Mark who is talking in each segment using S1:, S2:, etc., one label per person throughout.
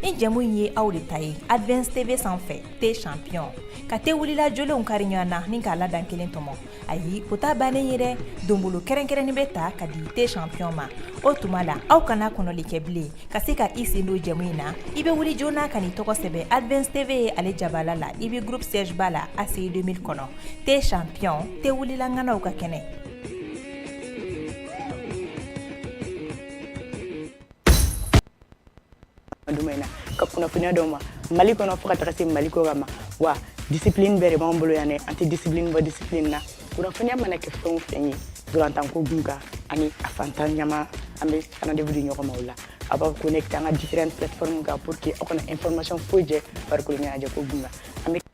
S1: nin jɛmu in ye aw de ta ye advance tv sanfɛ te champion ka te wulila jolenw kari ɲɔgɔn na ni k'a ladan kelen tɔmɔ ayi o t'a bannen ye dɛ donbolo kɛrɛnkɛrɛnnin bɛ ta ka di te champion ma o tuma la aw kana kɔnɔli kɛ bilen ka se ka i sen don jɛmu in na i bɛ wuli joona ka n'i tɔgɔ sɛbɛn advance tv ye ale jabala la i bɛ groupe siège ba la aci 2000 kɔnɔ te champion te wulila ŋanaw ka
S2: kɛnɛ in na ka kunnafoniya dɔw ma mali kɔnɔ fo ka taga se mali kɔkan ma wa discipline bɛɛ de b'an bolo yan dɛ an tɛ discipline bɔ discipline na kunnafoniya mana kɛ fɛn o fɛn ye ntolatanko kunkan ani a fantan ɲama an bɛ rendez-vous di ɲɔgɔn ma o la a b'a connecter an ka différentes plateformes kan pour que aw kana information foyi jɛ farikolo ɲɛnajɛ ko kunkan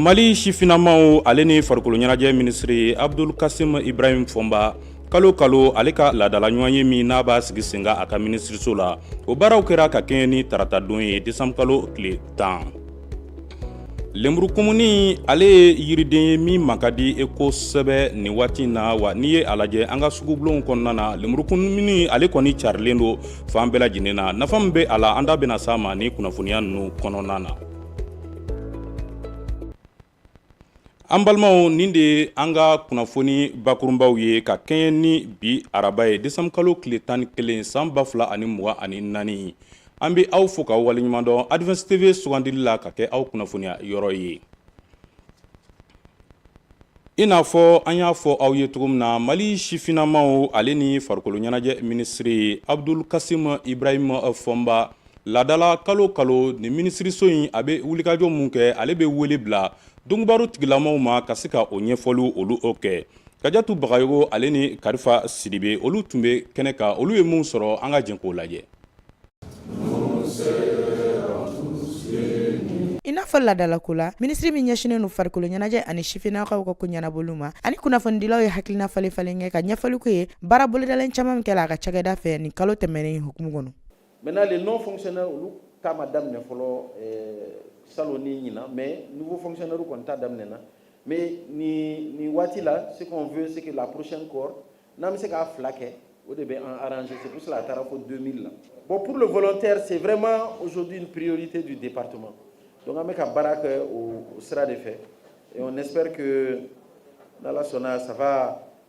S3: mali sifinamaw ale ni farikolo ɲɛnajɛ minisiri abdul kasim ibrahim fɔnba kalo kalo ale ka laadala ɲɔgɔnye min n'a b'a sigi sen kan a ka minisiriso la o baaraw kɛra ka kɛɲɛ ni taratadon ye desanbukalo tile tan Lemurukumuni ale ye yiriden ye min man ka di e kosɛbɛ nin waati in na wa n'i ye a lajɛ an ka sugubulonw kɔnɔna na lemurukumuni ale kɔni carilen don fan bɛɛ lajɛlen na nafa min bɛ a la an da bɛna s'a ma ni kunnafoniya ninnu kɔnɔna na An balimaw nin de an ka kunnafoni bakurunbaw ye ka kɛɲɛ ni bi araba ye desanbukalo tile tan ni kelen san ba fila ani mugan ani naani an bɛ aw fo k'aw waleɲumandɔn advance tv sugandili la ka kɛ aw kunnafoniya yɔrɔ ye i n'a fɔ an y'a fɔ aw ye cogo min na mali sifinamaw ale ni farikolo ɲɛnajɛ minisiri abdul kasim ibrahima fɔnba Ladala kalo kalo nin minisiriso in a bɛ wulikajɔ min kɛ ale bɛ wele bila donkibaro tigilamaw ma ka se ka o ɲɛfɔliw olu o kɛ kajatu bagayogo ale ni karifa sidibe olu tun bɛ kɛnɛ kan olu ye min sɔrɔ an ka jɛ k'o lajɛ
S4: i n'a fɔ ladalako la minisiri min ɲɛsinnen don farikolo ɲɛnajɛ ani sifinnakaw ka ko ɲɛnabɔli ma ani kunnafonidilaw ye hakilina falen falen kɛ ka ɲɛfɔli k'u ye baara bolodalen caman min kɛla a ka cakɛda fɛ nin kalo tɛmɛnen hukumu kɔnɔ Maintenant, les
S5: non-fonctionnaires, olu ta ma daminɛ fɔlɔ euh, salon ni ɲinan mais nouveau fonctionnaire kɔni ta daminɛna mais ni ni waati la ce qu'on veut c'est que la prochaine cohorte n'an bɛ se k'a fila kɛ o de bɛ an arranger c'est pour cela a taara fo 2000 la bon pour le volontaire c'est vraiment aujourd'hui une priorité du département donc an bɛ ka baara kɛ o sira de fɛ et on espère que n'ala sɔnna ça va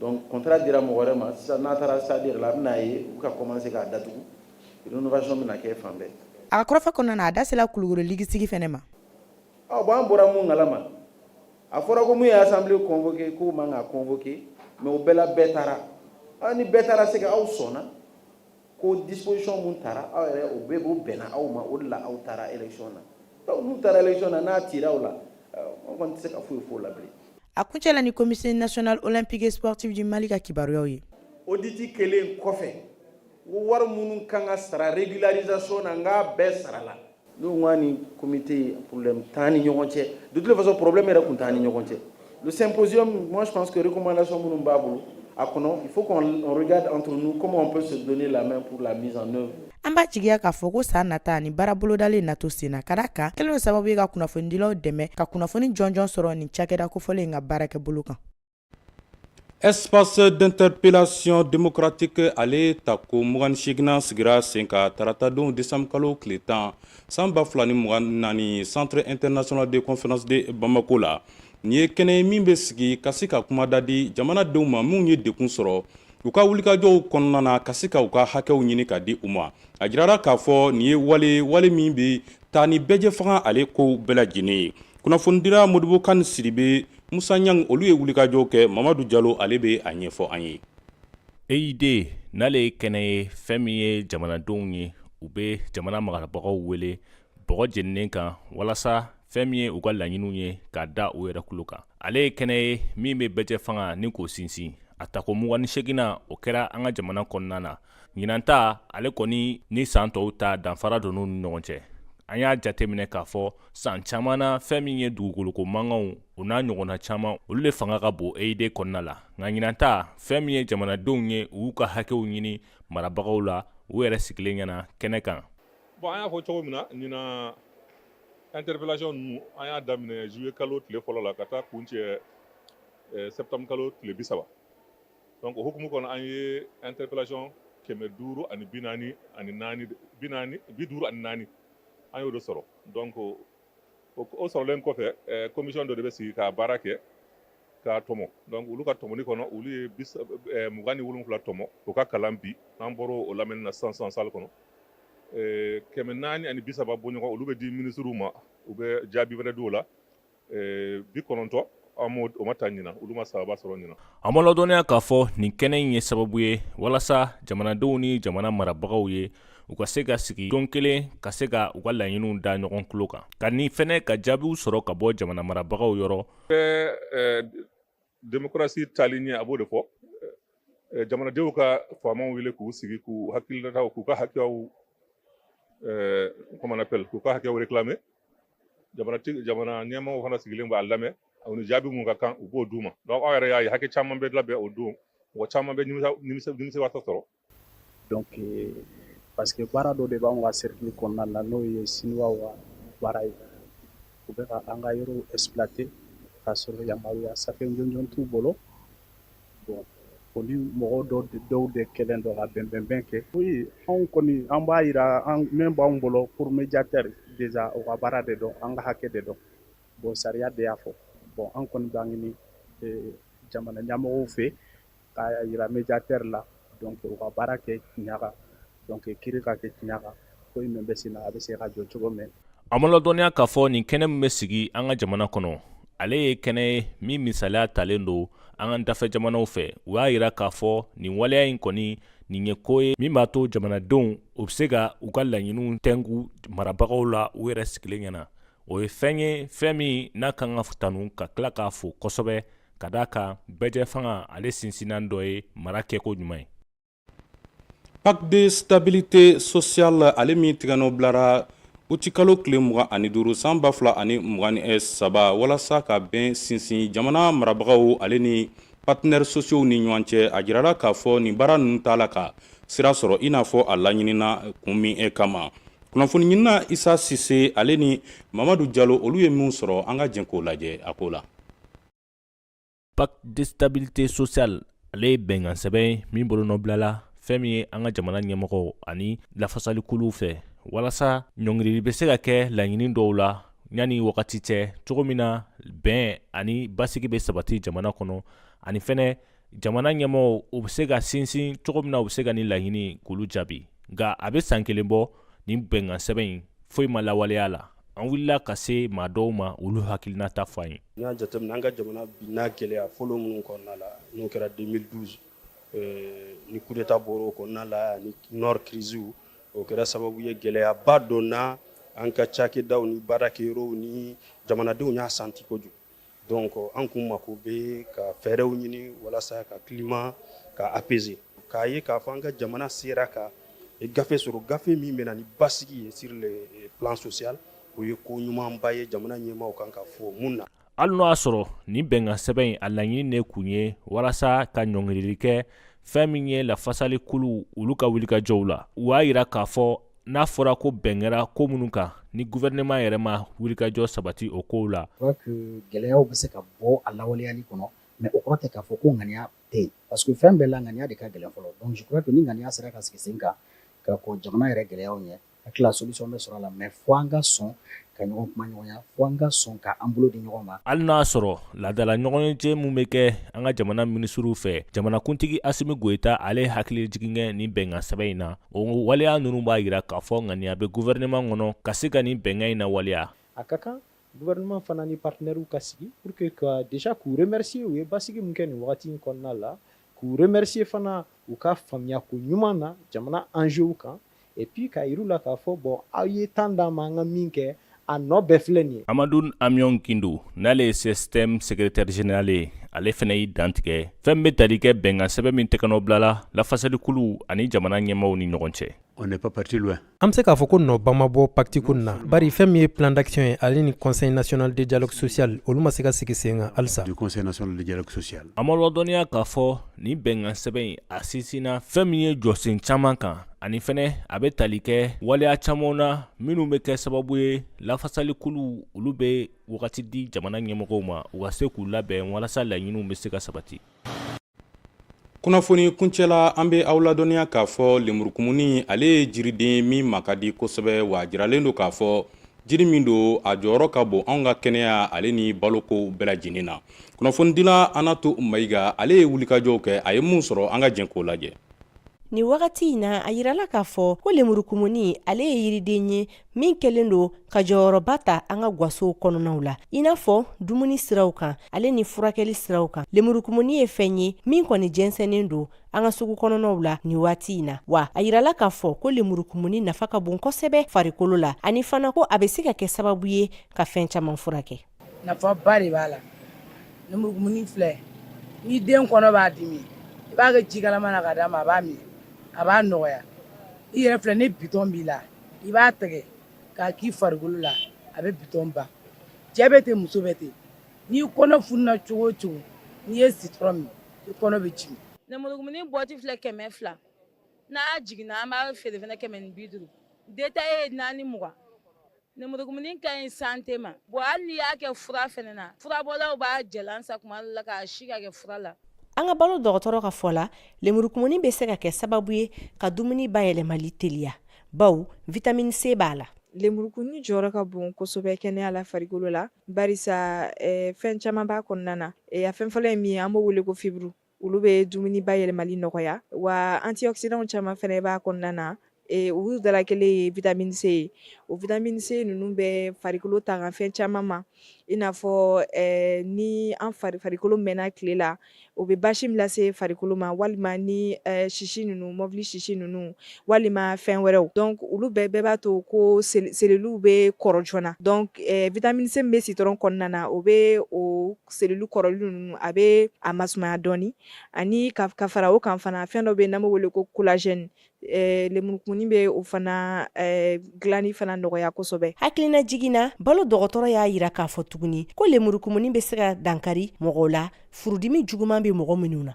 S5: Donc contrat dira mɔgɔ wɛrɛ ma sisan n'a taara stade yɛrɛ la a bɛna ye u bɛ ka commencer k'a datugu rénovation bɛna kɛ fan bɛɛ. A ka kɔrɔfɔ kɔnɔna na,
S4: a da sela Kulukoro ligi sigi fɛnɛ ma. Ɔ bon
S5: an bɔra mun kalama? A fɔra ko mun ye assemblée convoquer k'o man ka convoquer mais o bɛɛ la bɛɛ taara. Ɔ ni bɛɛ taara c'est que aw sɔnna. ko disposition min tara aw yɛrɛ o bɛɛ b'o bɛnna aw ma o de la aw taara élection na donc n'u taara élection na n'a cira aw la an kɔni tɛ se ka foyi f'o la bilen. a kuncɛla
S4: ni comité national olympique et sportif du mali ka kibaruyaw ye. audit
S5: kɛlen kɔfɛ wari minnu kan ka sara régularisation na n k'a bɛɛ sarala. N'u ni komte ye porobi tan ni ɲɔgɔn cɛ duti fasɔ porobi yɛrɛ tun tan ni ɲɔgɔn cɛ senpzsi kuma na sɔn minnu b'a bolo a kɔnɔ fo antomɛ an b'a
S4: jigiya k'a fɔ ko san nata ni baara bolodalen na to sen na ka kan kelen sababu bɛ ka kunnafonidilaw dɛmɛ ka kunnafoni jɔnjɔn sɔrɔ ni cakɛda kofɔlen in ka baarakɛ bolo kan
S3: Espace d'interpellation démocratique ale tako mugan ni seginnan sigira sen kan taratadon décembre kalo tile tan san ba fila ni mugan ni naani centre international de conférence de Bamako la nin ye kɛnɛ ye min bɛ sigi ka se ka kumada di jamanadenw ma minnu ye dɛgun sɔrɔ u ka wulikajɔw kɔnɔna na ka se ka u ka hakɛw ɲini ka di u ma a jirara k'a fɔ nin ye wale ye min bɛ taa ni bɛɛjɛ fanga ale ko bɛɛ lajɛlen ye kunnafonidila Modibo Kani Sidibe Musa Ɲangi olu ye wulikajɔw kɛ Mamadu Jalo ale bɛ a ɲɛfɔ an ye.
S6: EID n'ale ye kɛnɛ ye fɛn min ye jamanadenw ye u bɛ jamana marabagaw wele bɔgɔ jeninen kan walasa fɛn min ye u ka laɲiniw ye k'a da u yɛrɛ tulo kan ale ye kɛnɛ ye min bɛ bɛɛjɛ fanga ni k'o sinsin a tako mugan ni seginnan o kɛra an ka jamana kɔnɔna na ɲinan ta ale kɔni ni saan tɔw ta danfara donn'u ni ɲɔgɔn cɛ an y'a jateminɛ k'a fɔ saan caaman na fɛɛn min ye dugukoloko mankanw o n'a ɲɔgɔnna caaman olu le fanga ka bon EID kɔnɔna la nka ɲinan ta fɛɛn min ye jamanadenw ye u y'u ka hakɛw ɲini marabagaw la u yɛrɛ sigilen ɲɛna kɛnɛ kan bon an y'a
S7: fɔ cogo min na ɲinan interpellation ninnu an y'a daminɛ juillet kalo tile fɔlɔ la ka taa kuncɛ eh, septembre kalo tile bisaba donc o hukumu kɔnɔ an ye interpellation kɛmɛ duuru ani bi naani ani naani bi naani bi duuru ani naani an y'o de sɔrɔ donc o o sɔrɔlen kɔfɛ eh, commission dɔ de bɛ sigi ka baara kɛ k'a tɔmɔ donc olu ka tɔmɔni kɔnɔ olu ye eh, mugan ni wolonwula tɔmɔ o ka kalan bi n'an bɔr'o o lamɛnni na sisan sisan salle kɔnɔ eh, kɛmɛ naani ani bi saba bɔɲɔgɔn olu bɛ di minisiriw ma u bɛ jaabi wɛrɛ di o la bi kɔnɔntɔn o ma taa ɲinan olu ma sababu sɔrɔ ɲinan a ma ladɔnniya
S6: k'a fɔ nin kɛnɛ in ye sababu ye walasa jamanadenw ni jamana marabagaw ye u ka se ka sigi don kelen ka se ka u ka laɲiniw da ɲɔgɔn tulo kan ka ni fɛnɛ ka jaabiw sɔrɔ ka bɔ jamana marabagaw
S7: yɔrɔ démocratie taali ɲɛ a b'o de fɔ jamanadenw ka faamaw wele k'u sigi k'u hakilila k'u ka hakɛw comment on appelle k'u ka hakɛw réclamer jamana ɲɛmaaw fana sigilen b'a lamɛn u ni jaabi mun ka kan u b'o d'u ma donc aw yɛrɛ y'a ye hakɛ caman bɛ labɛn o don mɔgɔ caman bɛ nimisiwasa sɔrɔ donc
S8: euh, parce que baara dɔ de b'anw ka cercle kɔnɔna na n'o ye siniwaw ka baara ye u bɛ ka an ka yɔrɔw exploiter k'a sɔrɔ yamaruya safɛ jɔnjɔn t'u bolo O ni mɔgɔ dɔw de kɛlen don ka bɛnbɛnbɛn kɛ oui anw kɔni an b'a yira an min b'an bolo pour médiateur déjà o ka baara de don an ka hakɛ de don bon sariya de y'a fɔ bon an kɔni b'a ɲini jamana ɲɛmɔgɔw fɛ k'a yira médiateur la donc u ka baara kɛ tiɲɛ kan donc kiri ka kɛ tiɲɛ kan ko in bɛ senna a bɛ se ka jɔ cogo min a ma ladɔnniya k'a
S6: fɔ nin kɛnɛ min bɛ sigi an ka jamana kɔnɔ ale ye kɛnɛ ye min misaliya talen don an ka dafɛ jamanaw fɛ u y'a yira k'a fɔ nin waleya in kɔni nin ye ko ye min b'a to jamanadenw u bɛ se ka u ka laɲiniw tɛnku marabagaw la u yɛrɛ sigilen ɲɛna o ye fɛn ye fɛn min n'a kan ka tanu ka tila k'a fo kosɛbɛ ka d'a kan bɛɛjɛ fanga ale sinsinnan dɔ ye mara kɛko ɲuman
S3: ye pacte de stabilité sociale ale min tigɛnɔ bilara utikalo tile mugan ani duuru san ba fila ani mugan ni eh, saba walasa ka bɛn sinsin jamana marabagaw ale ni partenaires sociaux ni ɲɔgɔn cɛ a jirala k'a fɔ nin baara ninnu t'a la ka sira sɔrɔ i n'a fɔ a laɲinina kun min eh, kama kunnafoni ɲinina isa sise ale ni mamadu jalo olu ye minw sɔrɔ an ka jɛn k'o lajɛ a ko la
S6: pacte de stabilité sociale ale ye bɛnkan sɛbɛn min bolonɔbilala fɛn min ye an ka jamana ɲɛmɔgɔw ani lafasalikuluw fɛ walasa ɲɔngirili bɛ se ka kɛ laɲini dɔw la yanni wagati cɛ cogo min na bɛn ani basigi bɛ sabati jamana kɔnɔ ani fɛnɛ jamana ɲɛmɔgɔw u bɛ se ka sinsin cogo min na u bɛ se ka nin laɲini k'olu jaabi nka a bɛ san kelen bɔ nin bɛnkan sɛbɛn in foyi ma lawaleya la an wulila ka se maa dɔw ma olu hakilinata fɔ an ye n y'a jateminɛ an ka jamana
S8: binna gɛlɛya fɔlɔ minnu kɔnɔna la n'o kɛra 2012 eh, ni kudeta bɔra o kɔnɔna la ani nord crise o kɛra sababu ye gɛlɛyaba donna an ka cakɛdaw ni baarakɛyɔrɔw ni jamanadenw y'a santi kojugu donc an kun mako bɛ ka fɛɛrɛw ɲini walasa ka climat ka apaiser k'a ye k'a fɔ an ka jamana sera ka gafe sɔrɔ gafe min bɛna na ni basigi ye sur le plan social o ye ko ɲumanba ye jamana ɲɛmaaw kan ka fo min na hali n'o y'a
S6: sɔrɔ nin bɛnkan sɛbɛn in a laɲini de kun ye walasa ka ɲɔngirili kɛ fɛn min ye lafasalikuluw olu ka wulikajɔw la u y'a yira k'a fɔ n'a fɔra ko bɛn kɛra ko minnu kan ni gouvernement yɛrɛ ma wulikajɔ sabati o kow la gɛlɛyaw bɛ
S9: se ka bɔ a lawaleyali kɔnɔ mais o kɔrɔ tɛ k'a fɔ ko ŋaniya tɛ yen parce que fɛn bɛɛ la ŋaniya de ka gɛlɛn fɔlɔ donc je crois que ni ŋaniya sera ka sigi sen kan ka kɔn jamana yɛrɛ gɛlɛyaw ɲɛ a tila solution bɛ sɔrɔ a la mais fo an ka sɔn ka ɲɔgɔn kumaɲɔgɔnya fo an ka sɔn ka an bolo di ɲɔgɔn ma hali n'a
S6: sɔrɔ laadala ɲɔgɔnye min bɛ kɛ an ka jamana minisiriw fɛ jamanakuntigi asimi goyita ale hakilijigin kɛ nin bɛnkan sɛbɛn in na o waleya ninnu b'a yira k'a fɔ ŋaniya bɛ guvɛrɛnɛman kɔnɔ ka se ka nin bɛnkan in lawaleya a ka
S10: kan gouvernement fana ni partenaires ka sigi pour que ka déjà k'u remercier u ye basigi min kɛ nin wagati in kɔnɔna la k'u remercier fana u ka faamuyako ɲuman na jamana enjeux kan et puis k'a yir'u la k'a fɔ bon aw ye temps d'an ma an ka min kɛ a nɔ bɛɛ filɛ nin ye. Amadun Amiɔn
S6: Gindo n'ale ye CSTM secrétaire général ye ale fana y'i dantigɛ fɛn min bɛ tali kɛ bɛnkan sɛbɛn min tɛgɛnɔ bilala lafasalikuluw ani jamana ɲɛmaaw ni ɲɔgɔn cɛ. on n'est pas parti
S11: loin. An bɛ se k'a fɔ ko
S12: nɔba ma bɔ pacte ko nin na bari fɛn min ye plan d'action ye ale ni conseil national de dialogue social olu ma se ka sigi sen kan halisa. du conseil national de dialogue
S11: social. An b'aw ladɔnniya k'a
S6: fɔ nin bɛnkan sɛbɛn in a sinsinna fɛn min ye jɔsen caman kan ani fɛnɛ a bɛ tali kɛ waleya camanw na minnu bɛ kɛ sababu ye lafasalikuluw olu bɛ wagati di jamana ɲɛmɔgɔw ma u ka se k'u labɛn walasa laɲiniw bɛ se ka sabati
S3: kunnafoni kuncɛla an bɛ aw ladɔnniya k'a fɔ lemurukumuni ale ye jiriden ye min ma ka di kosɛbɛ wa a jiralen don k'a fɔ jiri min don a jɔyɔrɔ ka bon anw ka kɛnɛya ale ni baloko bɛɛ lajɛlen na kunnafonidila anatu mayiga ale ye wulikajɔw kɛ a ye min sɔrɔ an ka jɛn k'o lajɛ nin
S13: wagati in na a yirala k'a fɔ ko lemurukumuni ale ye yiriden ye min kɛlen don ka jɔyɔrɔba ta an ka gwasow kɔnɔnaw la i n'a fɔ dumuni siraw kan ale ni furakɛli siraw kan lemurukumuni ye fɛn ye min kɔni jɛnsɛnnen don an ka sugu kɔnɔnaw la nin waati in na wa a yirala k'a fɔ ko lemurukumuni nafa ka bon kosɛbɛ farikolo la ani fana ko a bɛ se ka kɛ sababu ye ka fɛn caman furakɛ nafaba
S14: de b'a la lemurukumuni filɛ ni den kɔnɔ b'a dimi i b'a kɛ ji kalaman na ka d'a ma a b'a min a b'a nɔgɔya i yɛrɛ filɛ ni bitɔn b'i la i b'a tɛgɛ k'a k'i farikolo la a bɛ bitɔn ban cɛ bɛ ten muso bɛ ten n'i kɔnɔ fununa cogo o cogo n'i ye citron min i kɔnɔ bɛ jigin lemurukumuni bɔti
S15: filɛ kɛmɛ fila n'a jiginna an b'a feere fana kɛmɛ ni bi duuru detaye ye naani mugan Lemurukumuni ka ɲi santé ma bon hali n'i y'a kɛ fura fana na furabɔlaw b'a jalan san tuma dɔ la k'a si k'a kɛ fura la an ka balo dɔgɔtɔrɔ
S13: ka fɔ la lemurukumuni bɛ se ka kɛ sababu ye ka dumuni bayɛlɛmali teliya bawo vitamine C b'a la lemurukumuni
S16: jɔyɔrɔ ka bon kosɛbɛ kɛnɛya la farikolo la barisa fɛn caman b'a kɔnɔna na a fɛn fɔlɔ ye min ye an b'o wele ko fibre olu bɛ dumuni bayɛlɛmali nɔgɔya wa antioxydants caman fana b'a kɔnɔna na e, olu dala kelen ye vitamine C ye o vitamine C ninnu bɛ farikolo tanga fɛn caman ma i n'a fɔ e, ni an fari farikolo mɛnna tile la o bɛ basi min lase farikolo ma walima ni e, sisi ninnu mɔbili sisi ninnu walima fɛn wɛrɛw donc olu bɛɛ bɛɛ b'a to ko seluluw bɛ kɔrɔ joona donc vitamine C bɛ citron kɔnɔna na o bɛ o selulu kɔrɔli ninnu a bɛ a masumaya dɔɔni ani ka fara o kan fana fɛn dɔ bɛ yen n'an b'o wele ko collagène lemurukumuni bɛ o fana dilanni fana nɔgɔya kosɛbɛ hakilina jigin
S13: na balo dɔgɔtɔrɔ y'a yira k'a fɔ tuguni ko lemurukumuni bɛ se ka dankari mɔgɔw la furudimi juguman bɛ mɔgɔ minnu na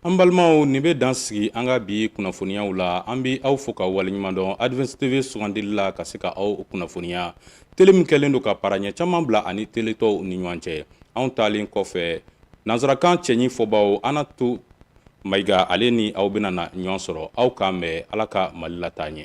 S3: An balimaw nin bɛ dan sigi an ka bi kunnafoniyaw la an bɛ aw fo ka waleɲuman dɔn Advance TV sugandili la ka se ka aw kunnafoniya tele min kɛlen don ka para ɲɛ caman bila a ni tele tɔw ni ɲɔgɔn cɛ anw taalen kɔfɛ nansarakan cɛɲi fɔbaw Anatu Mayiga ale ni aw bɛna na ɲɔgɔn sɔrɔ aw k'an bɛn Ala ka Mali lataa ɲɛ